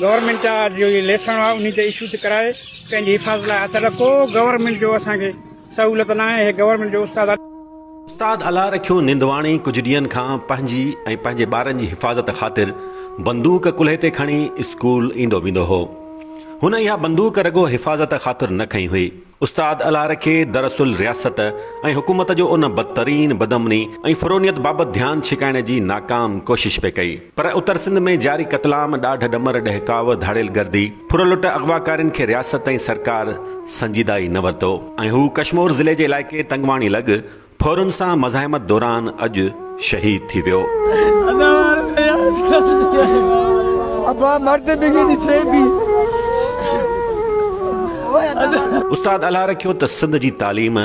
Government جا جي ليسڻ هئا انهي تي اشو ٿي ڪرائي پنهنجي حفاظت لاء هٿ اڏا ڪو گورنمينٽ جو اسان کي سهولت ناهي اهي گورنمينٽ جو استاد. استاد الهه رکيو نندواڻي ڪجهه ڏينهن کان پنهنجي ۽ پنهنجي ٻارن جي حفاظت خاطر بندوق ڪلهي تي کڻي اسڪول ايندو ويندو هو. هن اها بندوق رڳو حفاظت خاطر نه کنئي هئي. استاد الهه رکي دراصل رياست ۽ حڪومت جو ان بدترين بدامني ۽ فرونيت بابت ڌيان ڇڪائڻ جي ناڪام ڪوشش پئي ڪئي. پر اتر سنڌ ۾ جاري قتلام، ڏاڍ ڏمر، ڏهڪاء، ڌاڙيل گردي، ڦر لٽ اغواڪارين کي رياست ۽ سرڪار سنجيده ئي نه ورتو ۽ هو ڪشمور ضلعي جي علائقي تنگواڻي لڳ ڦورن سان مزاحمت دوران اڄ شهيد ٿي ويو. استاد الهه رکيو ته سنڌ جي تعليم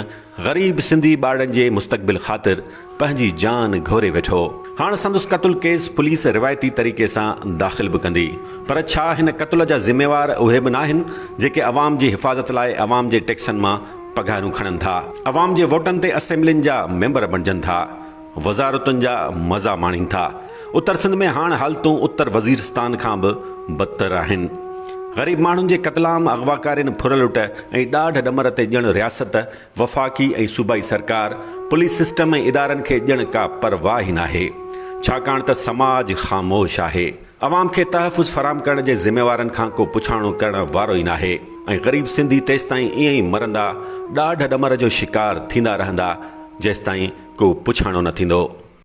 غريب سنڌي ٻارڙن جي مستقبل خاطر پنهنجي جان گهوري ويٺو. هاڻ سندس قتل ڪيس پوليس روايتي طريقي سان داخل به ڪندي. پر ڇا هن قتل جا ذميوار اهي به ناهن جيڪي عوام جي حفاظت لاء عوام جي ٽيڪسن مان پگهارون کڻن ٿا، عوام جي ووٽن تي اسيمبلين جا ميمبر بڻجن ٿا، وزارتن جا مزا ماڻين ٿا، اتر سنڌ ۾ هاڻ حالتون اتر وزيرستان کان به بدتر آهن، غريب ماڻهن جي قتلام، اغواڪارين، ڦر لٽ ۽ ڏاڍ ڏمر تي ڄڻ رياست، وفاقي ۽ صوبائي سرڪار، پوليس سسٽم ۽ ادارن کي ڄڻ ڪا پرواهه ئي ناهي، ڇاڪاڻ ته سماج خاموش آهي. عوام کي تحفظ فراهم ڪرڻ جي ذميوارن کان ڪو پڇاڻو ڪرڻ وارو ئي ناهي ۽ غريب سنڌي تيستائين ائين ئي مرندا ڏاڍ ڏمر جو شڪار ٿيندا رهندا جيستائين ڪو پڇاڻو نه ٿيندو.